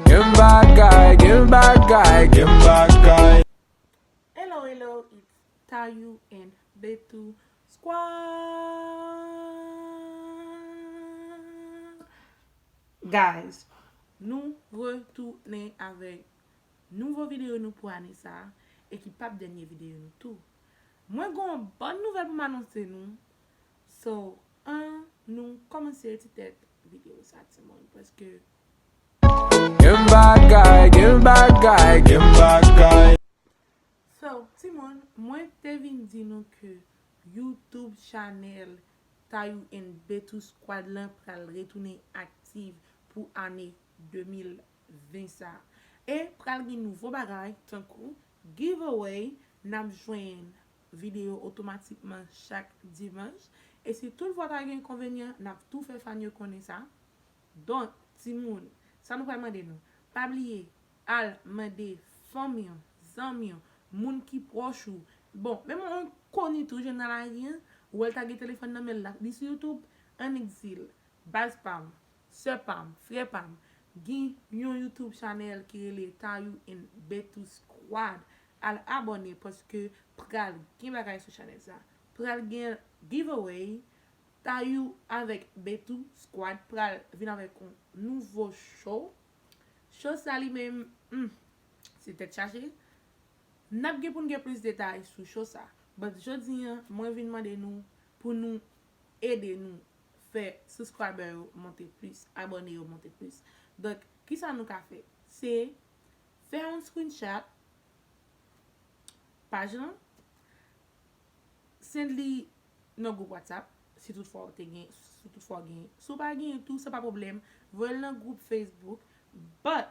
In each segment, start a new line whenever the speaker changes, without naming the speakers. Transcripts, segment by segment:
Gen bagay, gen bagay, gen bagay. Hello hello
it's Tayou and Bethoul squad Guys nou retounen avèk nouvo video nou pou ane sa e ki pap dènye video nou tou Mwen gen yon bòn nouvèl pou m anonse nou So an nou kòmanse ti tèt video sa timoun paske
So,
timoun, mwen te vin di nou ke YouTube chanèl Tayou and Bettou Squad lan pral retounen aktiv pou ane 2020 sa. E pral gen nouvo bagay tankou giveaway, n ap jwenn videyo otomatikman chak dimanch. E si toutfwa ta gen enkonvenyan, n ap tou fè fan yo konnen sa. Donk, timoun, sa nou pral mande nou, pa bliye al mande fanmi w, zanmi w, moun ki pwòch ou, bon, menm yon enkoni tou jwenn nan lari an, ou wè l ta gen telefòn nan men l, l ap li sou YouTube, annik di l, Baz pa m, sè pa m, frè pa m, gen yon YouTube chanèl ki rele Tayou and Betty Squad, al abòne paske pral gen bagay sou chanèl sa. Pral gen giveaway, Tayou avèk Betou squad pral vin avèk yon nouvo show, show sa li menm humm se tèt chaje, nap gen poun gen plis detay sou show sa, but jodi an mwen vin mande nou pou nou ede nou fè subscriber yo monte plis, abòne yo monte plis, donk kisa nou ka fè se fè yon screenshot paj lan send li nan gwoup WhatsApp si tout fwa ou te gen si tout fwa ou gen si ou pa gen tou se pa pwoblèm voye l nan gwoup Facebook but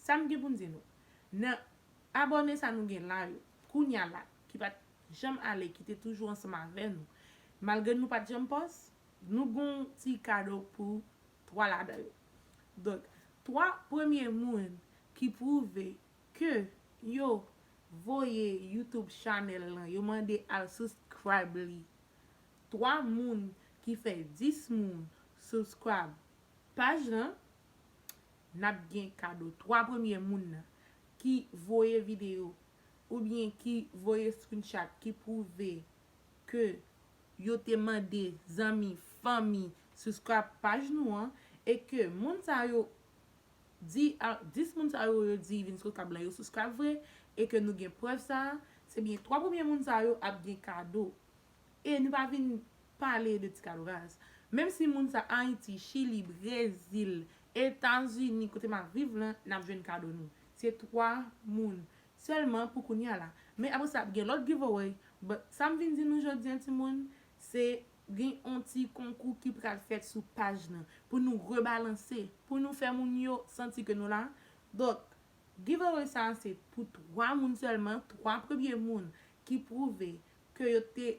sa m gen pou m di nou nan abòne sa nou gen la yo kounya la ki pa t janm ale ki te toujou ansanm avè nou malgre nou pa t janm pòs nou gen yon ti kado pou 3 ladan yo donk 3 premye moun ki pwouve Ke yo voye YouTube chanel lan yo mande al suscribe li 3 moun ki fè 10 moun suscribe paj lan nap gen kado 3 premye moun nan ki voye video oubyen ki voye screenshot ki prouve ke yo te mande zanmi fanmi suscribe paj nou an e ke moun sa yo Di a 10 moun sa yo yo di vin sou tab la yo souskrayb vre e ke nou gen prèv sa a, se byen 3 premye moun sa yo ap gen kado. E nou pa vin pale de ti kado raz. Menm si moun sa Ayiti, Chili, Brezil, Etazini kote m ap viv lan n ap jwenn kado nou. Se 3 moun sèlman pou kounya la. Men apresa ap gen lòt giveaway but sa m vin di nou jodi an timoun se Gen yon ti konkou ki pral fèt sou paj nan pou nou rebalanse, pou nou fè moun yo santi ke nou la. Donk, giveaway sa a se pou 3 moun sèlman, 3 premye moun ki pwouve ke yo te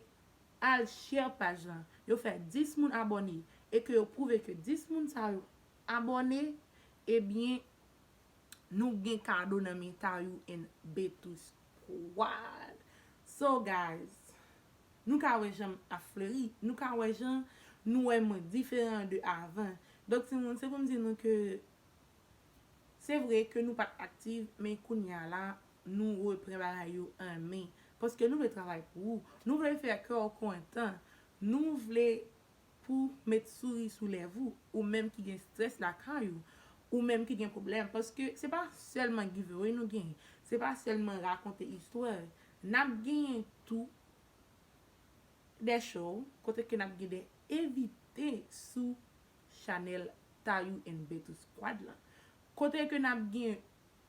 al share paj la, yo fè 10 moun abòne e ke yo pwouve ke 10 moun sa yo abòne, ebyen nou gen kado nan men Tayou and Betouce. What? So guys, nou ka wè jan m ap fleri, nou ka wè jan nou wè mwen diferan de avan. Donk timoun, se pou m di nou ke se vre ke nou pa t aktiv, men kounye a la, nou repran bagay yo an men. Paske nou vle travay pou ou, nou vle fè kè w kontan, nou vle pou met souri sou lèv ou, ou menm ki gen strès lakay ou, ou menm ki gen pwoblèm, paske se pa sèlman giveaway nou genyen, se pa sèlman rakonte istwa, nap genyen tou de show kote ke nap gen de envite sou chanèl Tayou and Betty Squad la, kote ke nap gen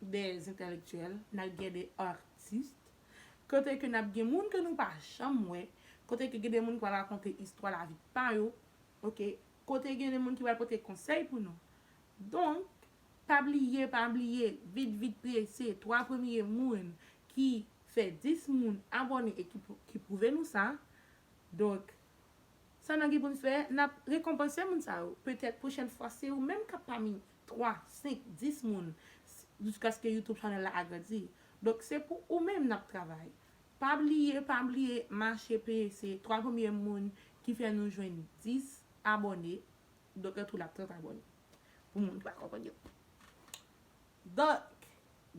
de entèlektyèl, nap gen de artiste, Kote ke nap gen moun ke nou pa janm wè, kote ke gen de moun ki pral rakonte istwa lavi pa yo, ok, kote gen de moun ki pral pote konsèy pou nou. Donk, pa bliye, pa bliye, vit vit prese, 3 premye moun ki fè 10 moun abòne e ki pwouve nou sa, donk, sa nan gen pou n fè, nap rekonpanse moun sa yo. Petèt pwochèn fwa se ou menm kap pami 3, 5, 10 moun jiskaske YouTube channel la agrandi. Donk se pou ou menm nap travay. Pa bliye pa bliye mache peye se 3 premye moun ki fè nou jwenn 10 abòne donk antou la 30 abòne pou moun ki pa konprann yo. Donk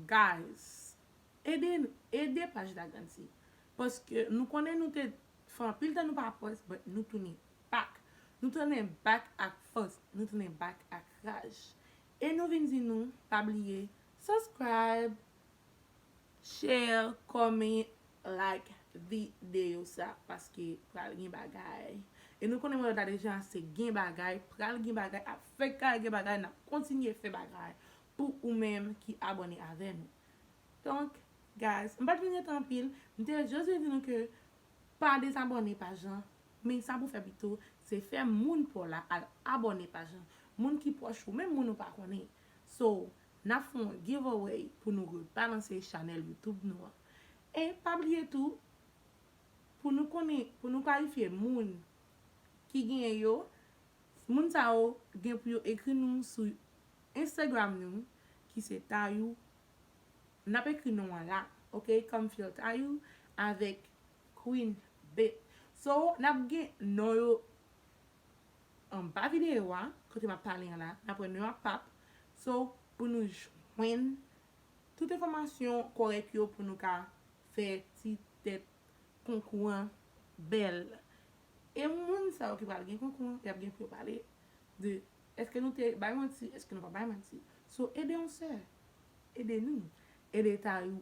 guys ede nou ede paj la grandi paske nou konnen nou te fè anpil tan nou pa post but nou tounen. Pak. Nou tounen bak ak fòs, nou tounen bak ak raj. E nou vin di nou, pa bliye Subscribe, Share, Comment, Like video sa paske pral gen bagay. E nou konnen mwen wè ta deja se gen bagay, pral gen bagay, ap fèk ka gen bagay, nap kontinye fè bagay pou ou menm ki abòne avè nou. Donk guys, m pat vin rete anpil, m te just vle di nou ke pa dezabòne pa jan Men sa pou fè pito, se fè moun paw la al abòne paj lan. Moun ki pwòch ou, menm moun ou pa konnen. So, nap fè yon giveaway pou nou rebalanse chanèl YouTube nou an. E pa bliye tou, pou nou konnen, pou nou kalifye moun ki genyen yo, moun sa yo gen pou yo ekri nou sou Instagram nou ki se Tayou, nap ekri non an la, ok, come feel Tayou avèk Queen Bee. So nap gen non yo anba video a kote map pale an la. Nap wè non yo ap pap. So pou nou jwenn tout enfòmasyon kòrèk yo pou nou ka fè ti tèt konkou an bèl. E moun sa yo ki pral gen konkou an yap gen pou yo pale de eske nou te bay manti eske nou pa bay manti. So ede yon sè, ede nou, ede tayou.